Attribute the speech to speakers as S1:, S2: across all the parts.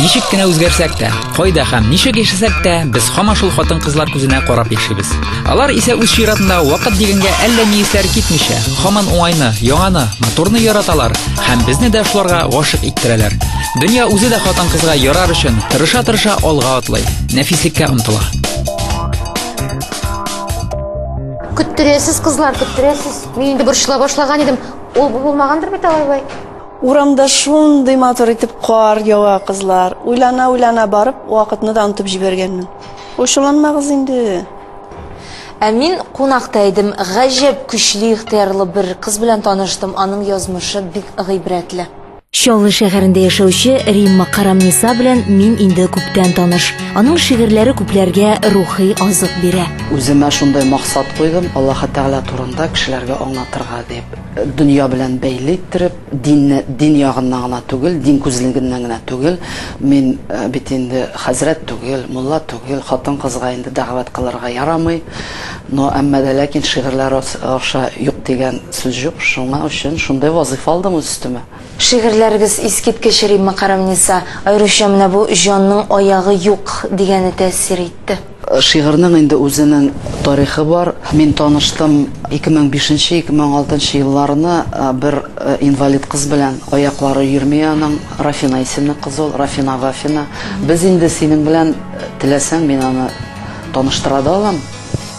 S1: Ничек кенә үзгәрсәк тә, кайда һәм ничек яшәсәк тә, без һаман шул хатын-кызлар күзенә карап яшибез. Алар исә үз чиратында вакыт дигәнгә әллә ни исләре китмичә, һаман уңайны, яңаны, матурны яраталар һәм безне дә шуларга гашык иттерәләр. Дөнья үзе дә хатын-кызга ярар өчен тырыша-тырыша алга атлый, нәфислеккә омтыла. Көттерәсез, кызлар, көттерәсез. Мин инде борчыла башлаган идем. Ул булмагандыр бит алай-болай. Урамда шундый матур итеп кар ява, кызлар. Уйлана-уйлана барып, вакытны да онытып җибәргәнмен. Ачуланмагыз инде. Ә мин кунакта идем. Гаҗәп көчле ихтыярлы бер кыз белән таныштым. Аның язмышы бик гыйбрәтле. Чаллы шәһәрендә яшәүче Римма Карамниса белән мин инде күптән таныш. Аның шигырьләре күпләргә рухи азык бирә. Үземә шундый максат куйдым, Аллаһы Тәгалә турында кешеләргә аңлатырга дип. дөнья белән бәйле иттереп, динне дин ягыннан гына түгел, дин күзлегеннән генә түгел, мин бит инде хәзрәт түгел, мулла түгел, хатын-кызга инде дәгъвәт кылырга ярамый, но әмма дә ләкин шигырьләр аша юк дигән сүз җук, шуңа өчен шундый вазыйфа алдым үз өстемә. Шигырьләрегез искиткеч, Римма Карамниса, аеруча менә бу Җанның аягы юк дигәне тәэсир итте. Шигырьнең инде үзенең тарихы бар. Мин таныштым ике мең бишенче, ике мең алтынчы елларны бер инвалид кыз белән. Аяклары йөрми аның. Рафина исемле кыз ул, Рафина Вафина. Без инде синең белән, теләсәң, мин аны таныштыра да алам.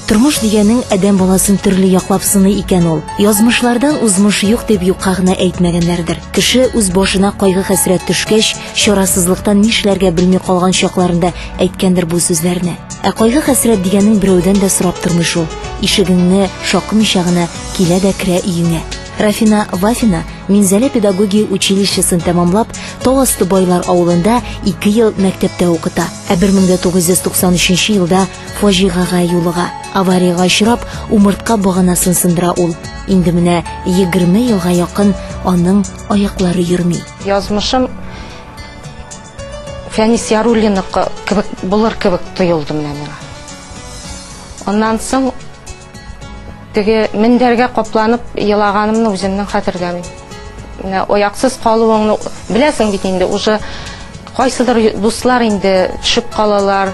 S1: Тормыш дигәнең адәм баласын төрле яклап сыный икән ул. Язмышлардан узмыш юк дип юкка гына әйтмәгәннәрдер. Кеше үз башына кайгы-хәсрәт төшкәч, Чарасызлыктан нишләргә белми калган чакларында әйткәндер бу сүзләрне. Ә кайгы хәсрәт дигәнең берәүдән дә сорап тормый шул. Ишегеңне шакымыйча гына килә дә керә өеңә. Рафина Вафина Минзәлә педагогия училищесын тәмамлап, Тау асты байлар авылында 2 ел мәктәптә укыта. Ә 1993 елда фаҗигага юлыга. Авариягә очрап, умыртка баганасын сындыра ул. Инде менә 20 елга якын аның аяклары йөрми. Язмышым Фәнис Яруллиныкы кебек булыр кебек тоелды менә миңа. Аннан соң теге мендәргә капланып елаганымны үземнең хәтерләмим. Менә аяксыз калуыңны беләсең бит инде, уже кайсыдыр дуслар инде төшеп калалар,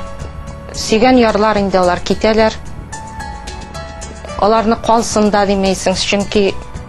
S1: сөйгән ярлар инде алар китәләр. Аларны калсын да димәйсең, чөнки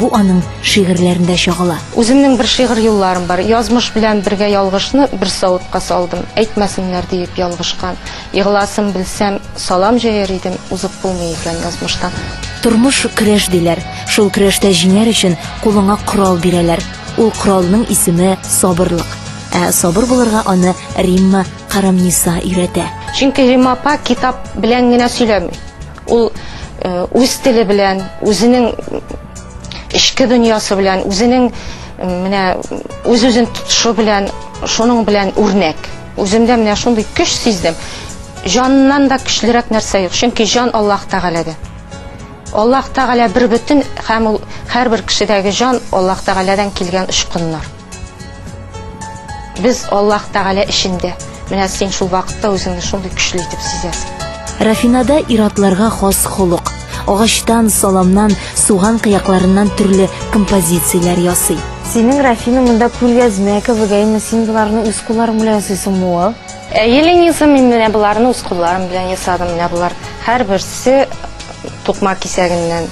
S1: Бу аның шигырьләрендә чагыла. Үземнең бер шигырь юлларым бар. Язмыш белән бергә ялгышны бер савытка салдым. Әйтмәсеннәр диеп ялгышкан. Егыласын белсәм, салам җәяр идем, узып булмый икән язмыштан. Тормыш көрәш диләр. Шул көрәштә җиңәр өчен кулыңа корал бирәләр. Ул коралның исеме сабырлык. Ә сабыр булырга аны Римма Карамниса өйрәтә. Чөнки Римма апа китап белән генә сөйләми. Ул үз теле белән, үзенең эчке дөньясы белән, үзенең менә үз-үзен тотышы белән, шуның белән үрнәк. Үземдә менә шундый көч сиздем. Җаннан да көчлерәк нәрсә юк, чөнки җан Аллаһ Тәгаләдә. Аллаһ Тәгалә бер бөтен һәм ул һәрбер кешедәге җан Аллаһ Тәгаләдән килгән очкыннар. Без Аллаһ Тәгалә эчендә. Менә син шул вакытта үзеңне шундый көчле итеп сизәсең. Рафинада ир-атларга хас холык. Агачтан, саламнан, суган кыякларыннан төрле композицияләр ясый. Синең, Рафина, монда күлгәзмә кебек, әйеме? Син боларны үз кулларың белән ясыйсыңмы, уыл? Әйе, Лениза, мин менә боларны үз кулларым белән ясадым. Менә болар һәрберсе тукмак кисәгеннән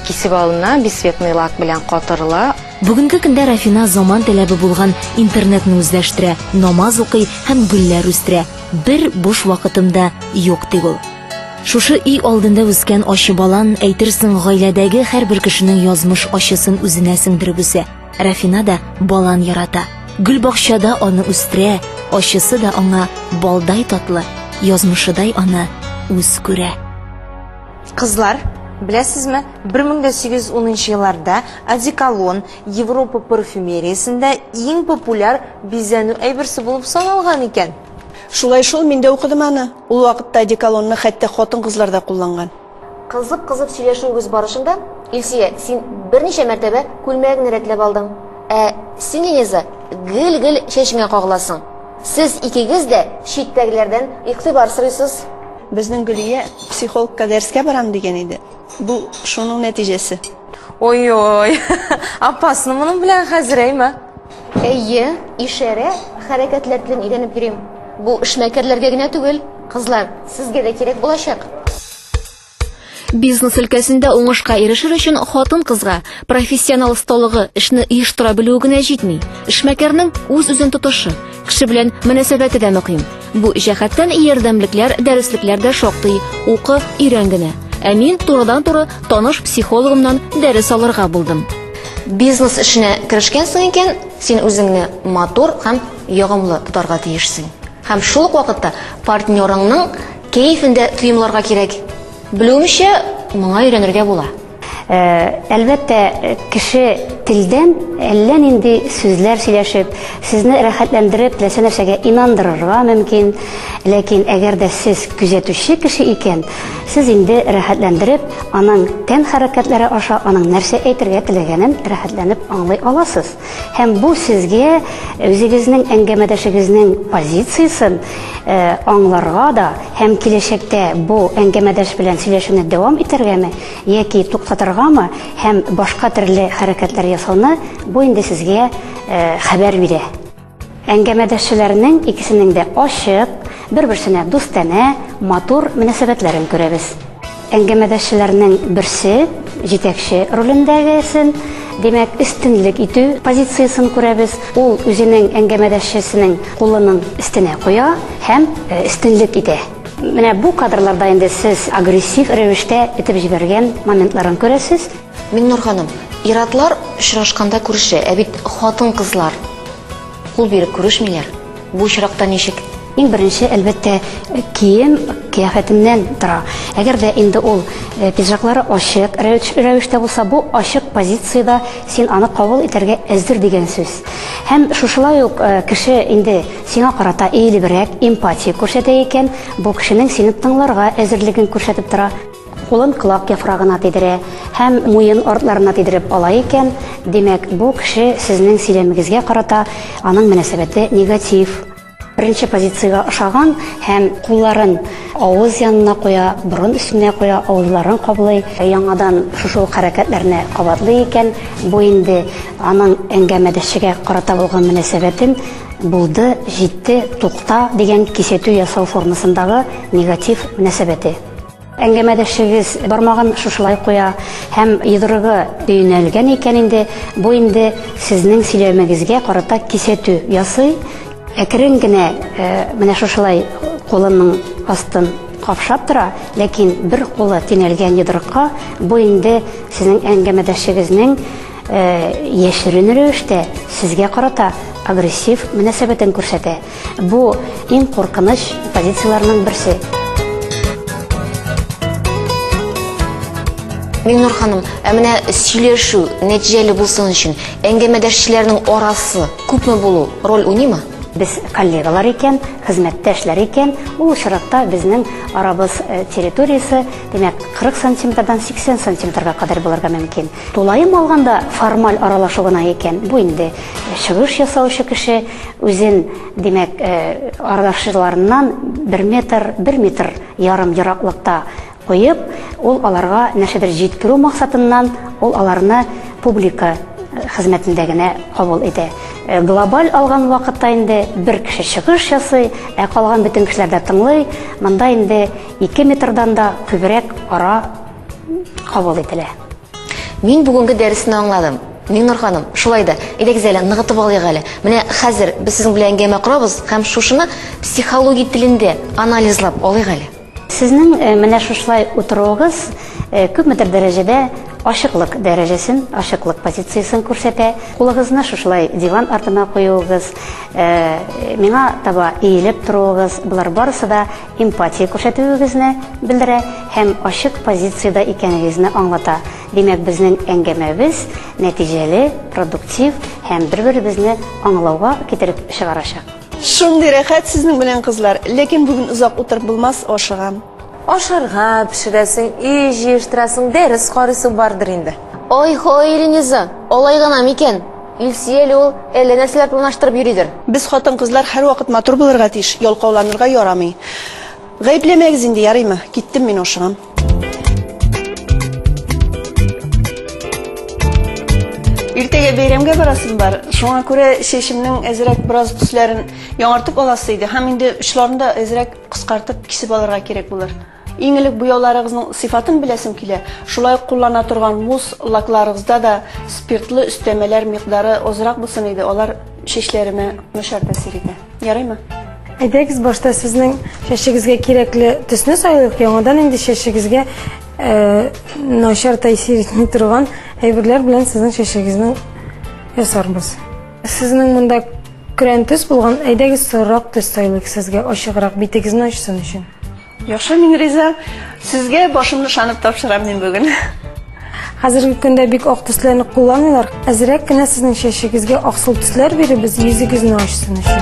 S1: кисеп алына, бисветный лак белән катырыла. Бүгенге көндә Рафина заман таләбе булган интернетны үзләштерә, намаз укый һәм гөлләр үстерә. Бер буш вакытым да юк, ди ул. Шушы өй алдында үскән ачы балан, әйтерсең, гаиләдәге һәрбер кешенең язмыш ачысын үзенә сеңдереп үсә. Рафина да балан ярата. Гөлбакчада аны үстерә, ачысы да аңа балдай татлы, язмышыдай аны үз күрә. Кызлар, беләсезме, 1810 елларда одеколон Европа парфюмериясендә иң популяр бизәнү әйберсе булып саналган икән. Шулай шул, мин дә укыдым аны. Ул вакытта одеколонны хәтта хатын-кызлар да кулланган. Кызып-кызып сөйләшүебез барышында, Илсөя, син берничә мәртәбә күлмәгеңне рәтләп алдың. Ә син, Линиза, гел-гел чәчеңә кагыласың. Сез икегез дә читтәгеләрдән игътибар сорыйсыз. Безнең Гөлия психологка дәрескә барам дигән иде. Бу шуның нәтиҗәсе. Ой-ой. Опасно моның белән хәзер әйме? Әйе, ишарә хәрәкәтләр белән өйрәнеп йөрим. Бу эшмәкәрләргә генә түгел, кызлар, сезгә дә кирәк булачак. Бизнес өлкәсендә уңышка ирешер өчен хатын-кызга профессионал осталыгы, эшне оештыра белүе генә җитми. Эшмәкәрнең үз-үзен тотышы, кеше белән мөнәсәбәте дә мөһим. Бу җәһәттән ярдәмлекләр, дәреслекләр дә шактый. Укы, өйрән генә. Ә мин турыдан-туры таныш психологымнан дәрес алырга булдым. Бизнес эшенә керешкәнсең икән, син үзеңне матур һәм ягымлы тотарга тиешсең. Һәм шул ук вакытта партнерыңның кәефен дә тоемларга кирәк. Белүемчә, моңа өйрәнергә була. Әлбәттә, кеше телдән әллә нинди сүзләр сөйләшеп, сезне рәхәтләндереп, теләсә нәрсәгә инандырырга мөмкин. Ләкин әгәр дә сез күзәтүче кеше икән, сез инде рәхәтләндереп, аның тән хәрәкәтләре аша аның нәрсә әйтергә теләгәнен рәхәтләнеп аңлый аласыз. Һәм бу сезгә үзегезнең әңгәмәдәшегезнең позициясен аңларга да һәм киләчәктә бу әңгәмәдәш белән сөйләшүне дәвам итәргәме яки туктатыргамы һәм башка төрле хәрәкәтләр ясауны бу инде сезгә хәбәр бирә. Әңгәмәдәшчеләрнең икесенең дә ачык, бер-берсенә дустанә, матур мөнәсәбәтләрен күрәбез. Әңгәмәдәшчеләрнең берсе җитәкче ролендәгесен, димәк, өстенлек итү позициясен күрәбез. Ул үзенең әңгәмәдәшчесенең кулының өстенә куя һәм өстенлек итә. Менә бу кадрларда инде сез агрессив рәвештә этеп җибәргән моментларын күрәсез. Миннур ханым, иратлар очрашканда күрешә, ә бит хатын-кызлар кул биреп күрешмиләр. Бу очракта ничек? Иң беренче, әлбәттә, кием кыяфәтеннән тора. Әгәр дә инде ул э, пиджаклары ачык рәвештә булса, бу ачык позициядә син аны кабул итәргә әзер дигән сүз. Һәм шушылай ук э, кеше инде сиңа карата иелебрәк эмпатия күрсәтә икән, бу кешенең сине тыңларга әзерлеген күрсәтеп тора. Кулын колак яфрагына тидерә һәм муен артларына тидереп ала икән, димәк, бу кеше сезнең сөйләмегезгә карата аның мөнәсәбәте негатив. Беренче позициягә ошаган һәм кулларын авыз янына куя, борын өстенә куя, авызларын каблый, яңадан шушы ук хәрәкәтләрне кабатлый икән, бу инде аның әңгәмәдәшчегә карата булган мөнәсәбәтен булды, җитте, тукта дигән кисәтү ясау формасындагы негатив мөнәсәбәте. Әңгәмәдәшегез бармагын шушылай куя һәм йодрыгы өйнәлгән икән инде, бу инде сезнең сөйләмегезгә карата кисәтү ясый. Әкрен генә э, менә шушылай кулының астын капшап тора, ләкин бер кулы тиңәлгән йодрыкка бу инде сезнең әңгәмәдәшегезнең э, яшерен рәвештә сезгә карата агрессив мөнәсәбәтен күрсәтә. Бу иң куркыныч позицияләрнең берсе. Миннур ханым, ә менә сөйләшү нәтиҗәле булсын өчен әңгәмәдәшчеләрнең арасы күпме булу роль уйныймы? Без коллегалар икән, хезмәттәшләр икән, ул очракта безнең арабыз э, территориясе, димәк, 40 сантиметрдан 80 сантиметрга кадәр булырга мөмкин. Тулаем алганда формаль аралашу гына икән, бу инде чыгыш ясаучы кеше үзен, димәк, аралашучыларыннан бер метр, бер метр ярым ераклыкта куеп, ул аларга нәрсәдер җиткерү максатыннан ул аларны публика хезмәтендә генә кабул итә. Глобаль алган вакытта инде бер кеше чыгыш ясый, ә калган бөтен кешеләр дә тыңлый, монда инде ике метрдан да күбрәк ара, кабул ителә. Мин бүгенге дәресне аңладым. Миңнур ханым, шулай да, әйдәгез әле, ныгытып алыйк әле. Менә хәзер без сезнең белән әңгәмә корабыз һәм шушыны психология телендә анализлап алыйк әле. Сезнең э, менә шушылай утыруыгыз э, күпмедер дәрәҗәдә ашыклык дәрәҗәсен, ашыклык позициясен күрсәтә. Кулыгызны шушылай диван артына куюыгыз, э, миңа таба иелеп торуыгыз, болар барысы да эмпатия күрсәтүегезне белдерә һәм ачык позициядә икәнегезне аңлата. Димәк, безнең әңгәмәбез нәтиҗәле, продуктив һәм бер-беребезне аңлауга китереп чыгарачак. Шундый рәхәт сезнең белән, кызлар. Ләкин бүген озак утырып булмас, ашыгам. Ашарга пешерәсең, өй җыештырасың, дәрес карыйсы бардыр инде. Ой-һой, Рениза, алай гына микән? Илсөя әле ул әллә нәрсәләр планлаштырып йөридер. Без хатын-кызлар һәрвакыт матур булырга тиеш, ялкауланырга ярамый. Гаепләмәгез инде, ярыймы? Киттем мин, ашыгам. Иртәгә бәйрәмгә барасым бар. Шуңа күрә чәчемнең әзрәк бераз төсләрен яңартып аласы иде һәм инде очларын да әзрәк кыскартып кисеп алырга кирәк булыр. Иң элек буяуларыгызның сыйфатын беләсем килә, шулай ук куллана торган мусс лакларыгызда да спиртлы өстәмәләр микъдары азрак булсын иде, алар чәчләремә начар тәэсир итә. Ярыймы? Әйдәгез, башта сезнең чәчегезгә кирәкле төсне сайлыйк, яңадан инде чәчегезгә начар тәэсир итми торган әйберләр белән сезнең чәчегезне ясарбыз. Сезнең монда көрән төс булган, әйдәгез сорырак төс сайлыйк сезгә ачыграк битегезне ачсын өчен. Яхшы, мин риза. Сезгә башымны шанып тапшырам мин бүген. Хәзерге көндә бик ак төсләрне кулланмыйлар. Әзрәк кенә сезнең чәчегезгә аксыл төсләр биребез, йөзегезне ачсын өчен.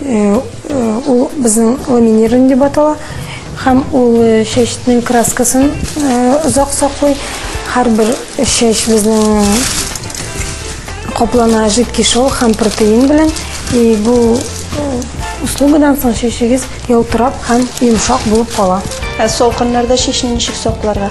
S1: Ул безнең ламинирование дип атала. Һәм ул чәчнең краскасын озак саклый. Һәрбер чәч безнең каплана жидкий шел һәм протеин белән. И бу услугадан соң чәчегез ялтырап һәм йомшак булып кала. Ә салкыннарда чәчне ничек сакларга?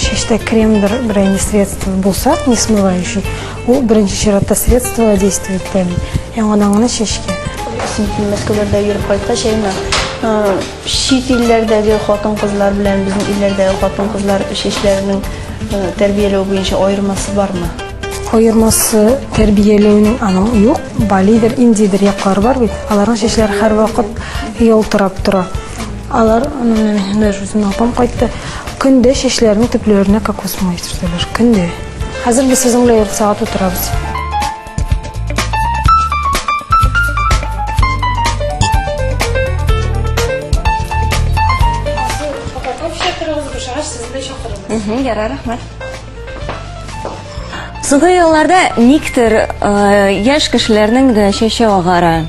S1: Чәчтә кремдер берәйне средство булса, не смывающий, ул беренче чиратта средство действие итә. Яңадан гына чәчкә. Син Мәскәүләрдә йөреп кайткач, әйме, чит илләрдәге хатын-кызлар белән безнең илләрдәге хатын-кызлар чәчләренең тәрбияләү буенча аермасы бармы? Аермасы тәрбияләүнең аның юк. Балидер, индидер яклары бар бит. Аларның чәчләре һәрвакыт ялтырап тора. Алар даже үземнең апам кайтты. Көндә чәчләренең төпләренә кокос май сөртәләр. Көндә. Хәзер без сезнең белән ярты сәгать утырабыз. Укытып чакырыгыз, бушагач сезне чакырырбыз. Ярар, рәхмәт. Соңгы елларда никтер э, яшь кешеләрнең дә чәче агара.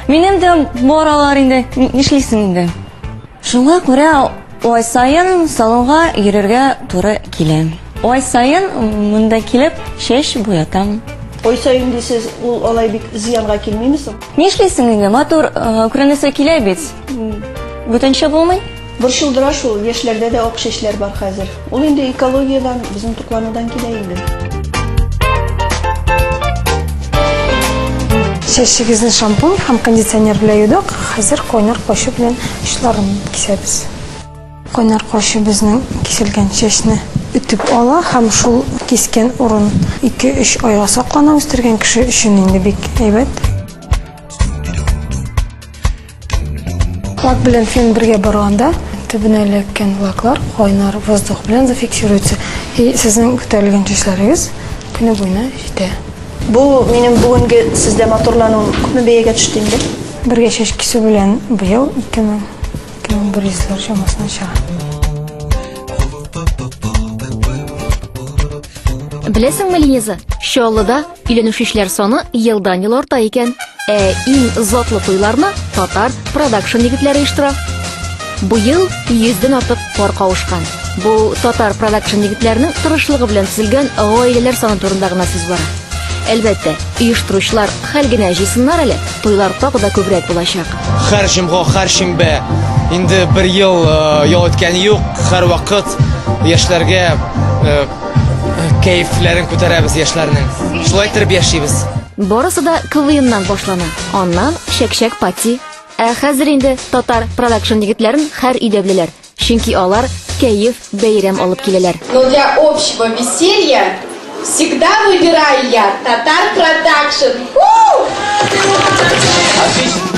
S1: Минем дә бар алар инде, ни- нишлисең инде. Шуңа күрә ай саен салонга йөрергә туры килә. Ай саен монда килеп чәч буятам. Ой саен дисез, ул алай бик зыянга килмиме соң? Нишлисең инде, матур э, күренесе килә бит. Бүтәнчә булмый. Борчылдыра шул, яшьләрдә дә ак чәчләр бар хәзер. Ул инде экологиядән, безнең тукланудан килә инде. Чәчегезне шампунь һәм кондиционер белән юдык, хәзер кайнар качу белән очларын кисәбез. Кайнар качу безнең киселгән чәчне өтеп ала һәм шул кискән урын ике-өч айга саклана, үстергән кеше өчен инде бик әйбәт. Лак белән фен бергә барганда төбенә эләккән лаклар кайнар воздух белән зафиксируется. И сезнең күтәрелгән чәчләрегез көне буена җитә. Бу минем бүгенге сездә матурлануым күпме бәягә төште инде? Бергә чәч кисү белән быел 2000-2100 лар чамасына чыга. Беләсеңме, Лиза, Чаллыда Өйләнүчеләр саны елдан-ел арта икән. Ә иң затлы туйларны татар продакшн егетләре оештыра. Быел 100 артык пар кавышкан. Бу татар продакшн егетләренең тырышлыгы белән төзелгән гаиләләр саны турында гына сүз бара. Әлбәттә, оештыручылар хәл генә җыйсыннар әле, туйлар тагы да күбрәк булачак. Хәр җомга, хәр шимбә инде бер ел э, ял иткән юк. Хәр вакыт яшьләргә э, Кәефләрен күтәрәбез яшьләрнең. Шулай торып яшибез. Барысы да КВНнан башлана. Аннан Шәкшәк пати. Ә хәзер инде татар продакшн егетләрен хәр өйдәблеләр. Чөнки алар кәеф, бәйрәм алып киләләр. Но для общего веселья всегда выбираю я Татар Продакшн. Отлично!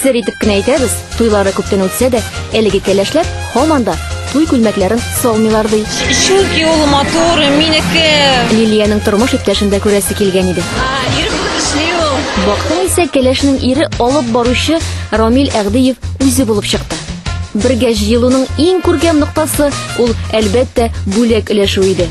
S1: Сер итеп кенә әйтәбез, туйлары күптән үтсә дә, әлеге кәләшләр һаман да туй күлмәкләрен салмыйлар ди. Чөнки ул матур, минеке. Лилиянең тормыш иптәшендә күрәсе килгән иде. Ир күзле ул. Бактың исә кәләшнең ире алып баручы Рамил Әгдиев үзе булып чыкты. Бергә җыелуның иң күркәм ноктасы ул, әлбәттә, бүләк өләшү иде.